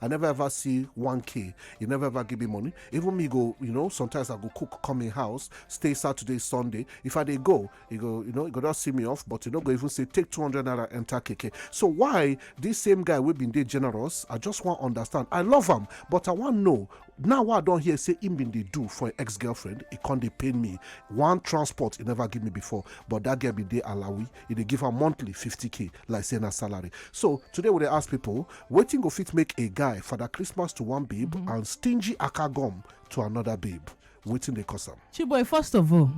I never ever see 1K. You never ever give me money. Even me go, you know, sometimes I go cook, come in house, stay Saturday, Sunday. If I they go, you go, you know, you go not see me off, but you know, go even say take 200 naira enter KK. So why this same guy we been there generous? I just want to understand. I love him, but I want to know now what i don't hear say him been they do for ex-girlfriend It can't they pay me one transport he never give me before but that girl be dey alawi He they give her monthly 50k like saying her salary so today we they ask people, waiting go fit make a guy for that christmas to one babe mm-hmm. and stingy akagom to another babe Waiting they cause am. chiboy first of all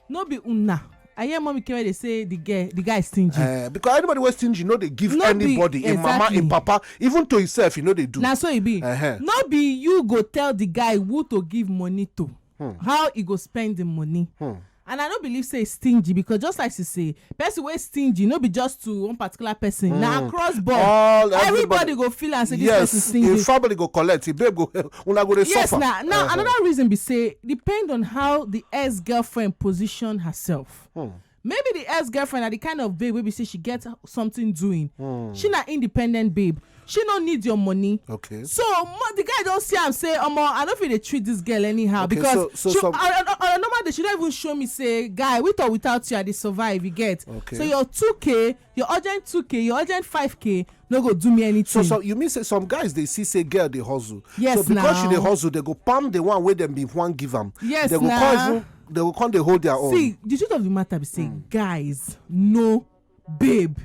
no be una i hear mommy kere dey say the girl the guy stingy eh, because anybody wey stingy no dey give anybody im mama im papa even to himself e no dey do na so e be no be you go tell the guy who to give money to hmm. how e go spend the money hmm. and i no believe say stingy because just like she say person wey stingy no be just to one particular person na hmm. across board everybody go feel am say this person stingy yes family go collect babe go una go dey yes suffer. na now another reason be say depend on how the ex girlfriend position herself Hmm. maybe the ex girlfriend na the kind of babe wey be say she get something doing Hmm. she na independent babe she no need your money Okay. so mo- the guy don see am say omo i no fit dey treat this girl anyhow Okay, because so- so she some- on on- on a normal day she don even show me say guy with or without you i dey survive you get Okay. so your 2k your urgent 2k your urgent 5k no go do me anything. so so you mean say some guys dey see say girl dey hustle. yes na so because she dey hustle they go palm the one wey dem bin wan give am. yes na they go come even they go come dey hold their own. see the truth of the matter be say mm. guys no babe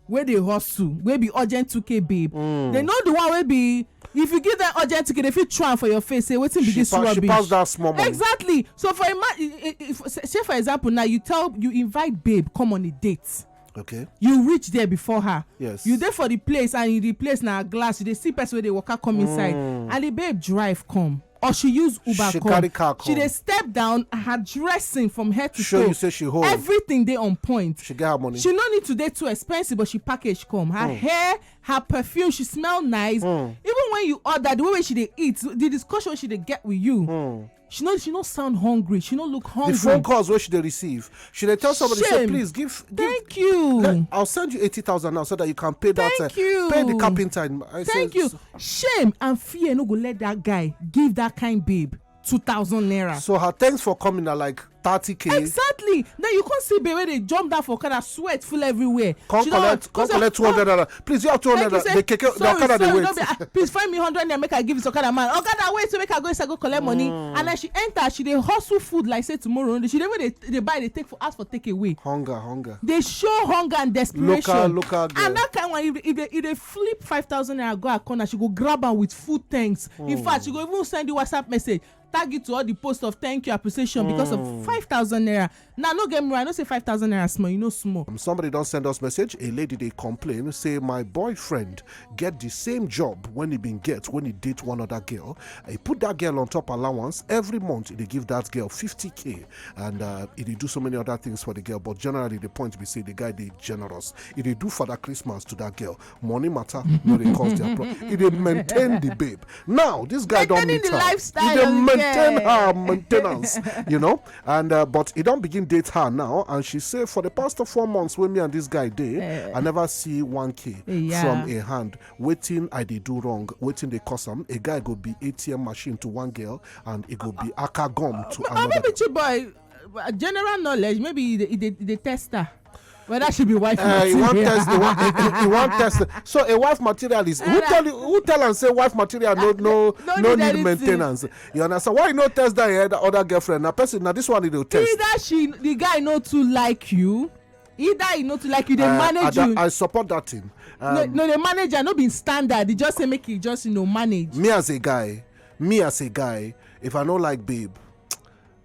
wey dey hustle wey be urgent 2k babe mm. they know the one wey be If you give them urgent ticket, they fit throw am for your face say wetin be She this pa- she rubbish. pass that small money. Exactly. So for ima i- i- i- say for example now you tell you invite babe come on a date. Okay. You reach there before her. Yes. You dey for the place and in the place na glass you dey see person wey dey waka come inside and the babe drive come or she use uber Mm. She come. carry car She come. dey step down her dressing from head to Show toe. you say she hold. Everything dey on point. She get her money. She no need to dey too expensive, but she package come. Her hair, her perfume she smell nice hmm. even when you order the way wey she dey eat the discussion she dey get with you hmm. she no she no sound hungry she no look hungry the phone calls wey she dey receive she dey tell somebody say please give thank you i'll send you eighty thousand now so that you can pay that uh, thank you pay the carpenter thank you shame and fear no go let that guy give that kind babe two thousand naira so her thanks for coming na like thirty k exactly then you come see babe wey dey jump down for okada sweat full everywhere come She don- collect come collect two hundred naira please you have two hundred Like you naira say, the keke the sorry, okada dey sorry, no be- wait ah, please find me hundred naira make i give this okada man okada wait so make i go inside go collect money Mm. and as she enter she dey hustle food like say tomorrow no dey she dey even dey dey buy dey take for ask for take away hunger hunger dey show hunger and desperation Local- local girl. and that kind one if if dey if dey flip five thousand naira go her corner she go grab am with full thanks in fact she go even send you whatsapp message tag it to all the posts of thank you appreciation because of hmm. five thousand naira now no get me wrong i no say five thousand naira small you know small. Um, somebody don send us message a lady dey complain say my boyfriend get the same job when he bin get when he date one other girl he put that girl on top allowance every month he dey give that girl fifty k and uh, he dey do so many other things for the girl but generally the point be say the guy dey generous E dey do father Christmas to that girl, money matter no dey cause their problem. E dey maintain the babe. Now this guy don Maintaining meet the her, e lifestyle dey of the maintain girl. her maintenance, you know. And uh, but he don begin date her now, and she say for the past four months wey me and this guy dey, I never see one k Yeah. from a hand. Wetin I dey do wrong? Wetin dey cause am? A guy go be ATM machine to one girl, and e go be aka gum to or another. maybe chiboy uh, general knowledge maybe e dey e dey e dey test her whether she be wife uh, you want test you want, you, you want test so a wife material is who tell you who tell am say wife material no no no, no need, need maintenance you understand why you no test that your other girlfriend na person na this one you dey test. either she the guy no too like you either e no too like you dey uh, manage you i support that thing um, no no the manager no be standard e just say make e just you know manage me as a guy me as a guy if i no like babe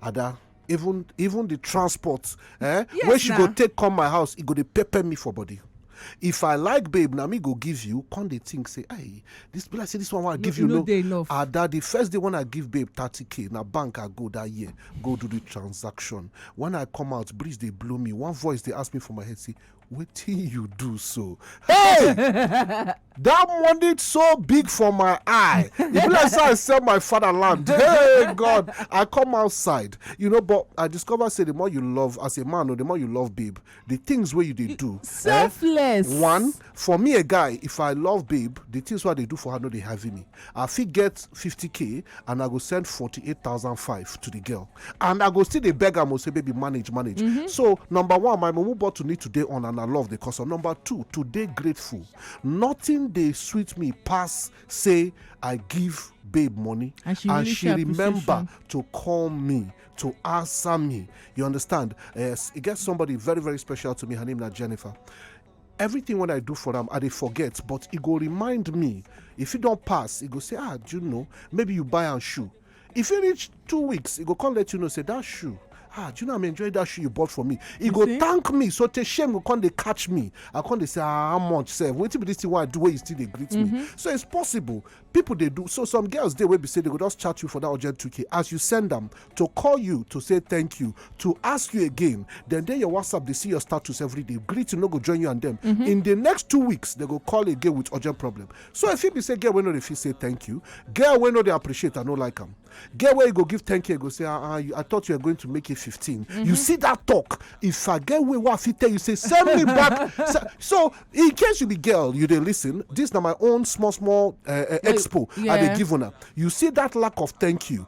ada even even the transport eh Yes, wey she go na. take come my house e go dey pepper me for body if i like babe na me go give you come dey think say hey this be like say this one wey i give e you no no dey enough. ada the first day when i give babe 30k na bank i go that year go do the transaction when i come out breeze dey blow me one voice dey ask me for my head say wetin you do so hey That money so big for my eye. It be like say I sell my fatherland. Hey God, I come outside. You know, but I discover say the more you love as a man, or the more you love babe, the things where you they do. eh, Selfless. one for me a guy if i love babe the things wey i dey do for her no dey heavy me i fit get 50k and i go send 48005 to the girl and i go still dey beg am o say baby manage manage so number one my mumu bottle need to dey on and i love the custom number two to dey grateful nothing dey sweet me pass say i give babe money And she really show remember to call me to answer me you understand yes e get somebody very very special to me her name na jennifer everything when i do for am i dey forget but e go remind me if e don pass e go say ah do you know maybe you buy am shoe e fit reach two weeks e go come let you know say that shoe ah do you know i'm enjoying that shoe you bought for me e go thank me so tey shame go come dey catch me i come dey say ah how much sef wetin be this thing wey i do wey you still dey greet me mm-hmm. so it's possible people dey do so some girls dey wey be say they go just chat you for that urgent 2k as you send them to call you to say thank you to ask you again then dey your whatsapp dey see your status every day greeting no go join you and them mm-hmm. in the next two weeks they go call again with urgent problem so e fit be say girl wey no dey fit say thank you girl wey no dey appreciate i no like am girl wey you go give thank you go say ah, ah i thought you were going to make it 15 mm-hmm. you see that talk if i get way wey i fit tell you say send me back so in case you be girl you dey listen this na my own small small uh, uh, expo yeah. i dey give una you see that lack of thank you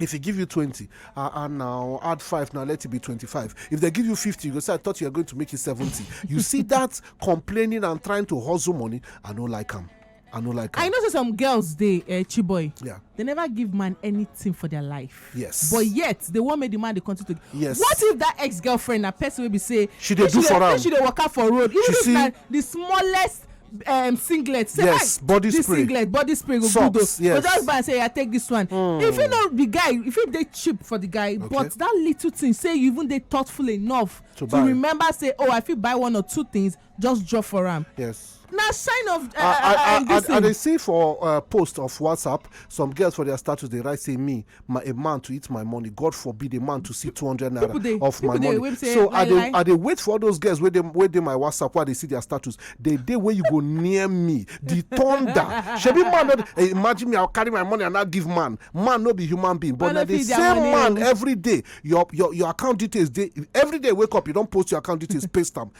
if he give you 20 uh, and now add 5 now let it be 25 if they give you 50 you go say i thought you were going to make it 70 you see that complaining and trying to hustle money i don't like him i don't like him i know say some girls they uh, eh, chiboy yeah they never give man anything for their life yes but yet they won't make the man they continue to yes what if that ex-girlfriend a person will be say she they do for am she they work out for road even if na the smallest um, singlet say yes ah, body this spray singlet body spray go Socks, good o yes. so just buy say i take this one mm. if you know the guy if you dey cheap for the guy okay. but that little thing say you even dey thoughtful enough to, to remember say oh i fit buy one or two things just drop for am yes na sign of uh, uh, uh, uh, i dey see for uh, post of whatsapp some girls for their status dey write say me my a man to eat my money god forbid a man to see 200 naira people dey- of my people dey money wait say, so i lie, dey lie. i dey wait for all those girls wey dey wey dey my whatsapp wey i dey see their status the day wey you go near me the thunder shebi man no dey eh, imagine me i carry my money and i give man man no be human being but Man na no the fit their same money man o. every day your your your account details dey every day you wake up you don post your account details paste am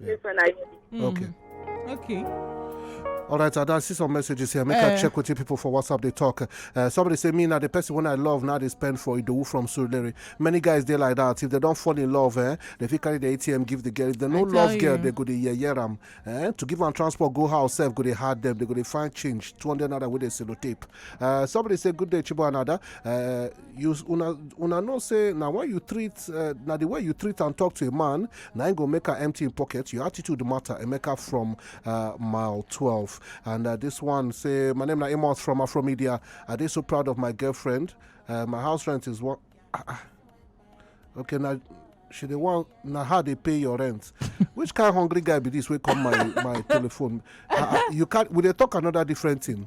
Yeah. This one I need. Mm. Okay. Okay. All right, I see some messages here. Make uh, I eh. check with you people for WhatsApp. They talk. Uh, somebody say me now the person when I love now they spend for Idowu from Surulere. Many guys they like that. If they don't fall in love, eh, they fit carry the ATM give the girl. If they no love you. girl, they go to yeah yeah ram. Eh? To give them transport, go house self go they hard them. They go they find change. Two hundred naira with a sellotape. Uh, somebody say good day Chibo another. Uh, you una una know say na when you treat uh, na the way you treat and talk to a man na im go make am empty im pocket your attitude matter emeka from uh, mile twelve and uh, this one say my name na amos from afromedia i dey so proud of my girlfriend uh, my house rent is one ah, ah. okay na she dey wan na her dey pay your rent which kind hungry guy be this wey come my my telephone ah, ah, you can we dey talk another different thing.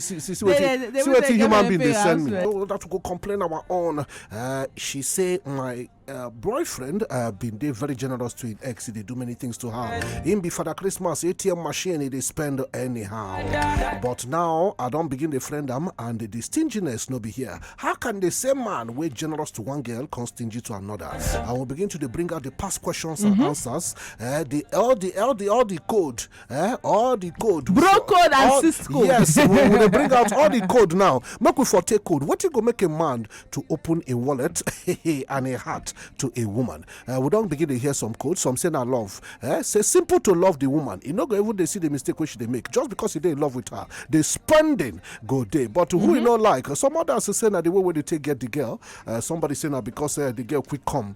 see see see wetin see wetin human being dey send me no that go complain our own uh, she say my uh, boyfriend uh, been dey very generous to him ex he dey do many things to her him be father christmas atm machine he dey spend anyhow but now i don begin dey friend am and the stinginess no be here how can the same man wey generous to one girl come stingy to another i will begin to dey bring out the past questions and mm-hmm. answers uh, the all the all the all the code eh all the code we Bro for- code and all- sis code. yes we we dey bring out all the code now make we for take code wetin go make a man to open a wallet and a heart to a woman Eh, we don begin dey hear some code some say na love eh say simple to love the woman e no go even dey see the mistake wey she dey make just because e dey in love with her the spending go dey but who e no like some others say na the way wey dey take get the girl Eh, somebody say na because eh, the girl quick come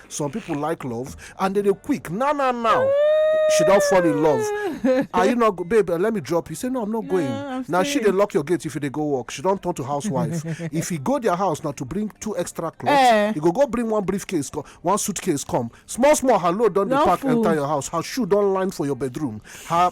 some people like love and they dey quick now now now she don't fall in love are you not babe uh, let me drop you say no i'm not going I'm now she they lock your gate if you dey go work she don't turn to housewife if you go their house now to bring two extra clothes Eh. you go go bring one briefcase co- one suitcase come small small her load don dey No pack fool. enter your house her shoe don line for your bedroom her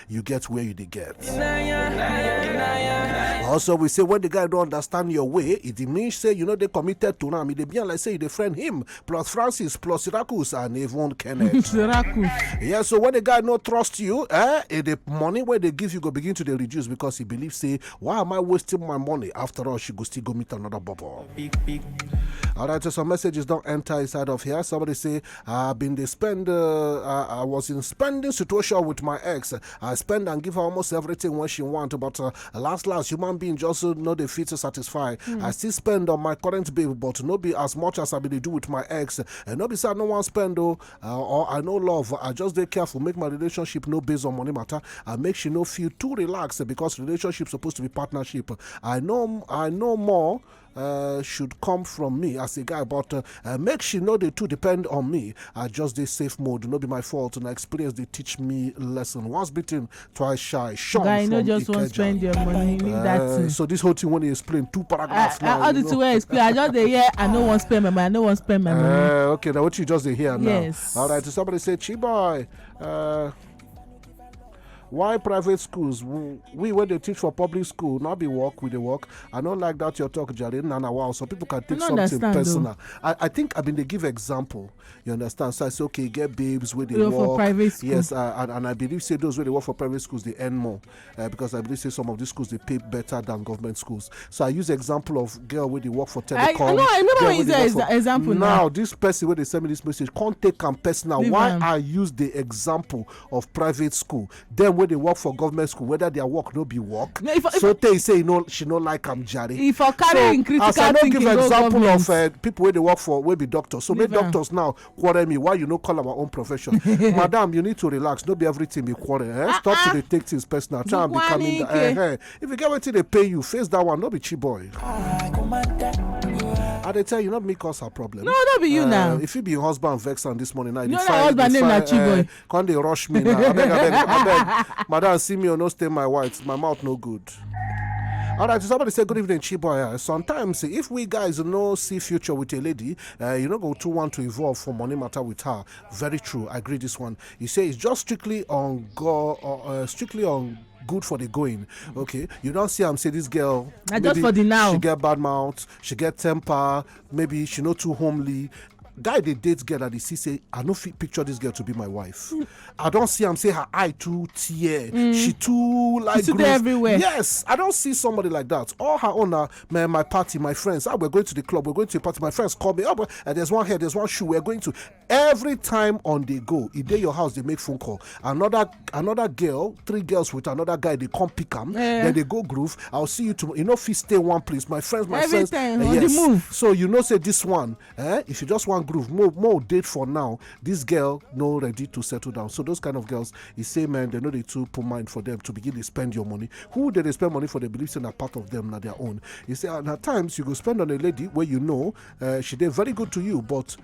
you get where you dey get. Also, we say when the guy don't understand your way, it means say you know they committed to him. It be like say they friend him plus Francis plus Syracuse and even Kenneth. Syracuse. Yeah, so when the guy not trust you, eh, eh, the money where they give you go begin to they reduce because he believes say why am I wasting my money? After all, she go still go meet another bubble. All right, so some messages don't enter inside of here. Somebody say I been dey spend, uh, I, I was in spending situation with my ex. I spend and give her almost everything when she want, but uh, last last human being just uh, no dey fit to satisfy. Mm. I still spend on my current babe, but no be as much as I been dey do with my ex. And no be say I no wan spend though, uh, or I no love. I just dey careful, make my relationship no based on money matter. I make she no feel too relaxed because relationship supposed to be partnership. I know, I know more. Uh, Uh, should come from me as a guy, but uh, uh, make she know they too depend on me. I just dey safe mode, no be my fault. And experience they teach me lesson. Once beaten, twice shy. Sean guy, you know, just want to spend your money. Leave that uh, thing. So this whole thing when you explain two paragraphs. I, uh, now, I, all the two I explain. I just dey hear. I no want spend my money. I no want spend my money. Uh, okay, now what you just dey hear now? Yes. All right. So somebody say, "Chiboy." Uh, why private schools we when they teach for public school not be work we dey work i don't like that your talk jare na na wow so people can take something personal I, I think i mean they give example you understand so i say okay get babes where they work for private school. yes uh, and, and i believe say those where they work for private schools they earn more uh, because i believe say some of these schools they pay better than government schools so i use example of girl where they work for telecom i, no, I never use ex- for, example now, now this person where they send me this message can't take am personal why i use the example of private school dem wey dey work for government school whether their work no be work No, if I- if so I- tey say e no she no like am jare if i carry so im critical as i no thinking give go example government of uh, people wey dey work for wey be doctors so make Leave am. doctors now quarrel me why you no call our own profession madam you need to relax no be everything be quarrel eh? stop to dey take things personal try and be Dukwa calming down n'ike. eh, eh. if you get wetin dey pay you face that one no be cheap boy i dey tell you not me cause her problem no no be you uh, now if you be husband vex am this morning now you dey find husband name na cheap boy uh, come dey rush me now abeg abeg abeg madam see me or oh, no stain my white my mouth no good all right, somebody say good evening, Chiboya. Sometimes if we guys no see future with a lady, uh, you know go to want to evolve for money matter with her. Very true. I agree this one. You say it's just strictly on go, uh, uh, strictly on good for the going okay you don't see I'm say this girl na just for the now she get bad mouth she get temper maybe she not too homely guy they date girl that dey see say i no fit picture this girl to be my wife i don't see I'm say her eye too tear mm. she too like she too everywhere yes i don't see somebody like that all her own na my my party my friends ah we're going to the club we're going to a party my friends call me up oh, and there's one here there's one shoe we're going to every time on the go e dey your house dey make phone call another another girl three girls with another guy dey come pick am eh. then dey go groove i'll see you tomorrow you no fit stay one place my friends my friends eh, yes so you know say this one eh if you just wan groove more more date for now this girl no ready to settle down so those kind of girls e say man dem no dey too put mind for them to begin dey spend your money who dey dey spend money for dey believe say na part of them na their own e say and at times you go spend on a lady wey you know eh, she dey very good to you but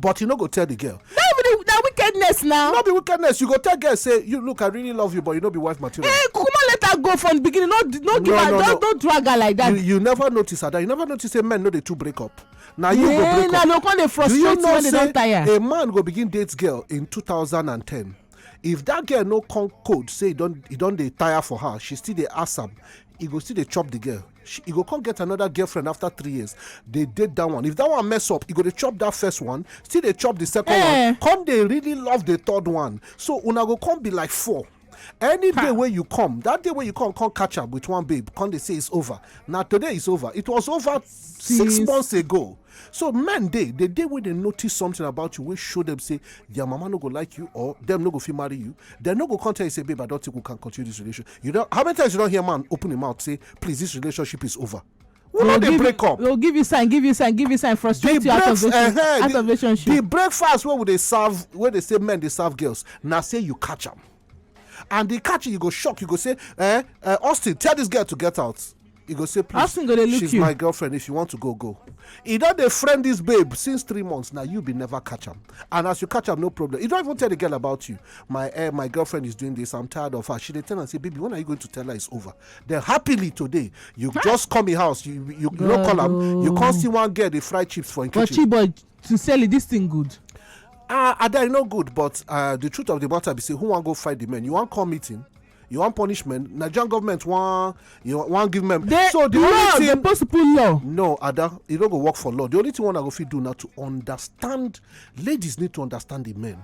but you no go tell the girl na wickedness now no be wickedness you go tell girl say you look i really love you but you no be wife material eh kukuma let her go from beginning no no give her no no drag her like that you never notice her that you never notice say men no dey too break up na you go break up na no come dey frustrate when they don tire a man go begin date girl in 2010 if that girl no come code say he don dey tire for her she still dey ask am he go still dey chop the girl she e go come get another girlfriend after three years dey date that one if that one mess up e go dey chop that first one still dey chop the second eh. one come dey really love the third one so una go come be like four any day wey you come that day wey you come come catch am with one babe come dey say it's over na today it's over it was over six months ago So men dey, the day wey dem notice something about you wey show dem say their mama no go like you or dem no go fit marry you, dem no go come tell you say babe I don think we can continue this relationship. You don how many times you don hear man open him mouth say please this relationship is over. We no dey break up. We'll give you sign, give you sign, give you sign, frustrate you out of relationship. Uh-huh, out the, of relationship. The breakfast wey we dey serve, wey dey say men dey serve girls, na say you catch am. and the catch you go shock you go say eh, eh austin tell this girl to get out you go say please austin go dey look she's you my girlfriend if you want to go go e don dey friend this babe since three months now you be never catch am and as you catch am no problem you don even tell the girl about you my eh my girlfriend is doing this i'm tired of her she dey tell am say baby when are you going to tell her it's over then happily today you just come in house you you, you no call am you come see one girl dey fry chips for im kitchen but chiboy sincerely this thing good. ah ada e no good but uh, the truth of the matter be say who wan go fight the men you wan call meeting you want punishment nigerian government wan you wan give men. they so the law thing, supposed to put law. no ada e no go work for law the only thing one i go fit do na to understand ladies need to understand the men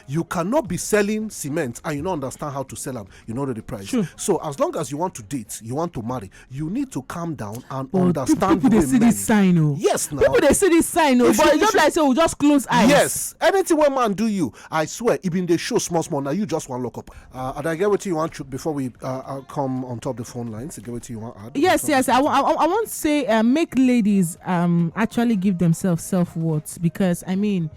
you cannot be selling cement and you don't understand how to sell them you know the price sure. so as long as you want to date you want to marry you need to calm down and oh, understand people they see this sign oh yes now people they see this sign oh but you just like say we just close eyes yes anything one man do you i swear even they show small small now you just want lock up uh, and i get what you want to, before we uh, uh, come on top the phone lines get what you want add yes yes I, I, I want to say uh, make ladies um actually give themselves self-worth because i mean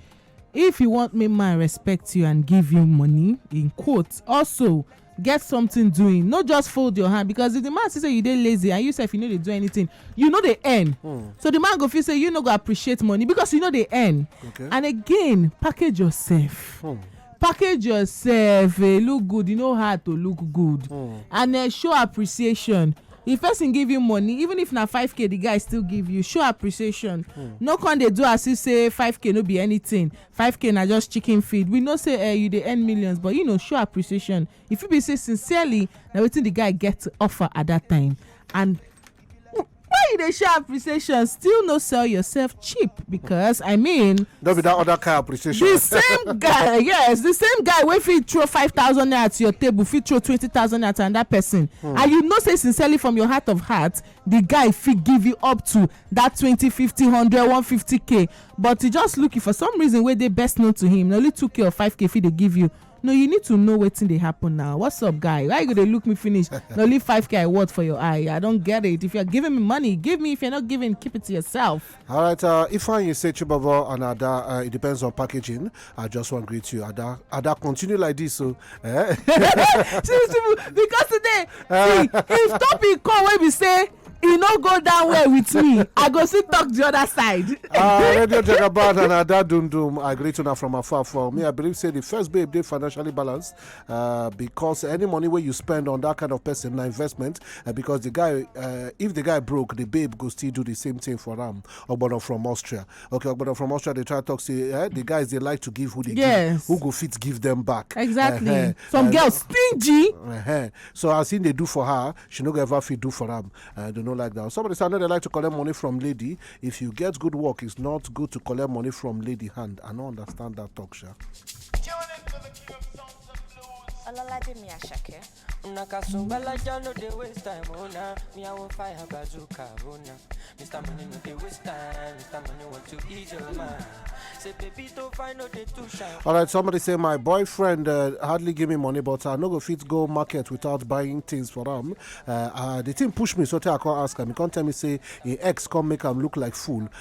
If you want make man respect you and give you money in quotes also get something doing no just fold your hand because if the man see say you dey lazy and you sef you no dey do anything you no dey earn hmm. so the man go feel say you no go appreciate money because you no dey earn and again package yourself hmm. package yourself eh, look good you know how to look good hmm. and eh, show appreciation if person give you money even if na 5k the guy still give you show appreciation hmm. no con dey do as if say 5k no be anything 5k na just chicken feed we know say eh, you dey earn millions but you know show appreciation if you be say sincerely na wetin the guy get to offer at that time and why you dey show appreciation still no sell yourself cheap because i mean no be that other kind appreciation. the same guy yes the same guy wey fit throw five thousand naira to your table fit throw twenty thousand naira to another person hmm. and you know say sincerely from your heart of heart the guy fit give you up to that twenty fifty hundred one fifty k but he just looking for some reason wey dey best known to him na only two k or five k fit dey give you no you need to know wetin dey happen now what's up guy why you go dey look me finish na only five k i worth for your eye i don get it if you are giving me money give me if you are not giving keep it to yourself. All right, uh, Ifeanyi say Chibabo and Ada, uh, it depends on packaging. I just want to greet you, Ada. Ada, continue like this, so. Eh? because today, uh, see, if topic come when we say e no go down well with me i go still talk the other side. ah radio jagaban and ada dundum i greet una from afar for me i believe say the first babe dey financially balanced uh, because any money where you spend on that kind of person na investment uh, because the guy uh, if the guy broke the babe go still do the same thing for them. ogbono from austria okay ogbono from austria they try talk say eh, the guys they like to give who they yes. give who go fit give them back exactly uh-huh. some uh, girls stingy uh-huh. so as in they do for her she no go ever fit do for them. uh, they no like that somebody say i know they like to collect money from lady if you get good work it's not good to collect money from lady hand i no understand that talk sha. Olalaje Miyashake. Una kasumbala ja no dey waste time oh na Me I wan fire bazooka oh na Mr. Money no dey waste time Mr. Money want to ease your mind Say baby to find no dey too shine All right, somebody say my boyfriend uh, hardly give me money, but I no go fit go market without buying things for am. Uh, uh, the thing push me, so tey I come ask am. He come tell me say him ex come make am look like fool.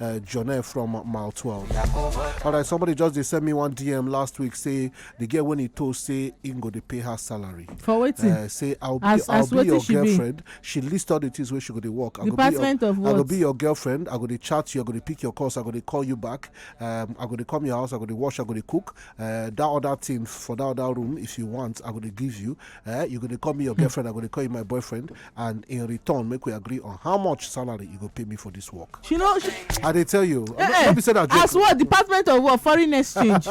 uh, Jonah from Mile 12. All right, somebody just they sent me one DM last week say the girl when he told say he go to pay her salary. For waiting. Uh, say I'll be, as, I'll as be your she girlfriend. Be? She list all the things where she go to work. I Department your, of what? I go be your girlfriend. I go to chat you. I go to pick your calls. I go to call you back. Um, I go to come your house. I go to wash. I go to cook. Uh, that other thing for that other room, if you want, I go to give you. Uh, you go to call me your hmm. girlfriend. I go to call you my boyfriend. and in return make we agree on how much salary you go pay me for this work she no she i dey tell you eh, no eh, be say na joke as what department of what foreign exchange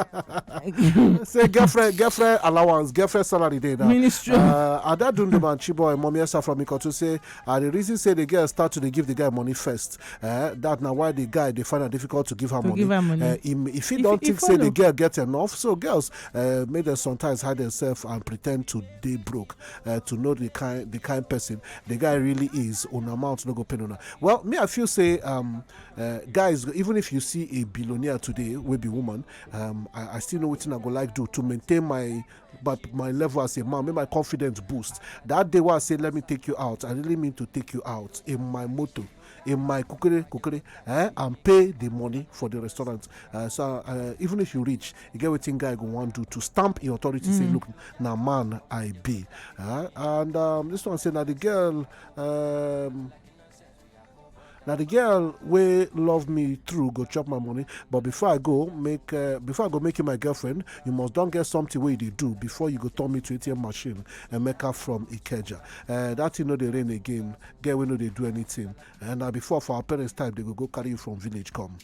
say girlfriend girlfriend allowance girlfriend salary dey now ministry uh, ada dunduman chiboy mommy esa from ikotu say uh, the reason say the girl start to dey give the guy money first uh, that na why the guy dey find am difficult to give her to money give her money uh, im if he don think say the girl get enough so girls uh, make dem sometimes hide themselves and pretend to dey broke uh, to know the kind the kind person the guy really is on amount no go pain una well me i feel say um, uh, guys even if you see a billionaire today will be woman um, I, I still know what i go like do to maintain my but my level as a man make my confidence boost that day where i say let me take you out i really mean to take you out in my motor in my kukere kukere eh, and pay the money for the restaurant. Uh, so uh, even if you reach, you get what guy go want to to stamp in authority. Mm. Say, look, now man I be. Uh, and um, this one said, now the girl. Um, now the girl will love me through go chop my money but before i go make uh, before i go make you my girlfriend you must don't get something where you do before you go turn me to atm machine and make her from ikeja uh, that you know the rain again girl wey no dey do anything and na before for our parents time they go go carry you from village come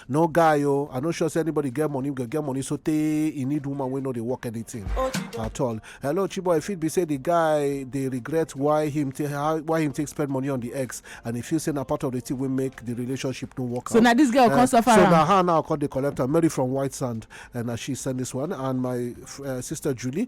no guy oh, i no sure say anybody get money go get money so tey e need woman wey no dey work anything at all hello chiboy e fit be say the guy dey regret why him take why him take spend money on the ex and e feel say na part of the thing wey make the relationship no work so out so na this girl uh, come suffer so na her now come dey collect am mary from white sand and uh, na she send this one and my uh, sister julie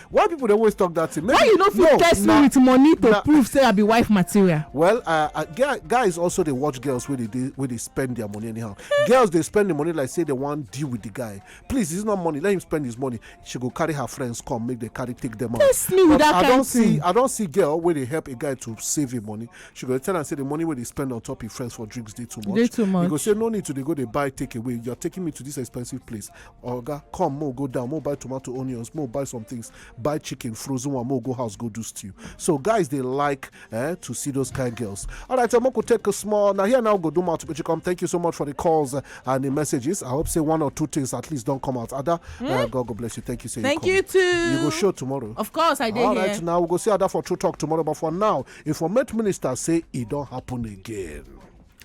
why people dey always talk that thing why you no fit test me with money to prove say i be wife material well uh, uh, guys also dey watch girls wey dey spend their money anyhow girls dey spend the money like say they wan deal with the guy please it's not money let him spend his money she go carry her friends come make they carry take them out test me with that kind of thing i don see girl wey dey help a guy to save him money she go tell am say the money wey dey spend on top him friends for drinks dey too much dey too much you go say no need to dey go dey buy take away you're taking me to this expensive place oga come make we go down make we buy tomato onions make we buy some things buy chicken frozen one make we go house go do stew so guys dey like eh, to see those kind girls all right so make we take a small na here now we go do mouth to pichicom thank you so much for the calls eh, and the messages i hope say one or two things at least don come out ada eh, god go bless you thank you say Thank you you come. too. you go show tomorrow Of course, I did all here. right now we go see ada for true talk tomorrow but for now informate minister say e don happen again.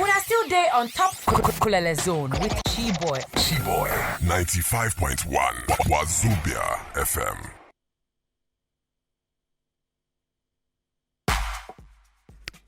Una still dey on top Kulele Zone with Chiboy. Chiboy 95.1 Wazubia FM.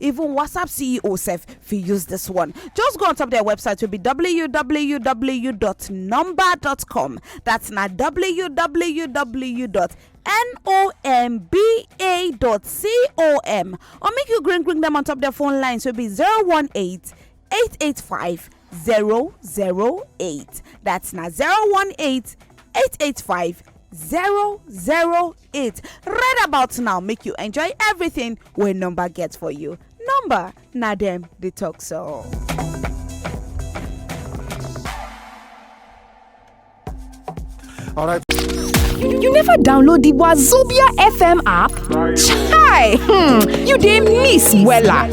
Even WhatsApp CEO sef fit use this one. Just go on top their website will be www.number.com. That's na www.nomba.com or make you green green them on top their phone lines will be 018 885 008. That's na 018 885 008. it right about now make you enjoy everything wey number get for you number na dem dey talk so. All right. You never download the Wazobia FM app? Chai! Hmm, you dey miss Wella.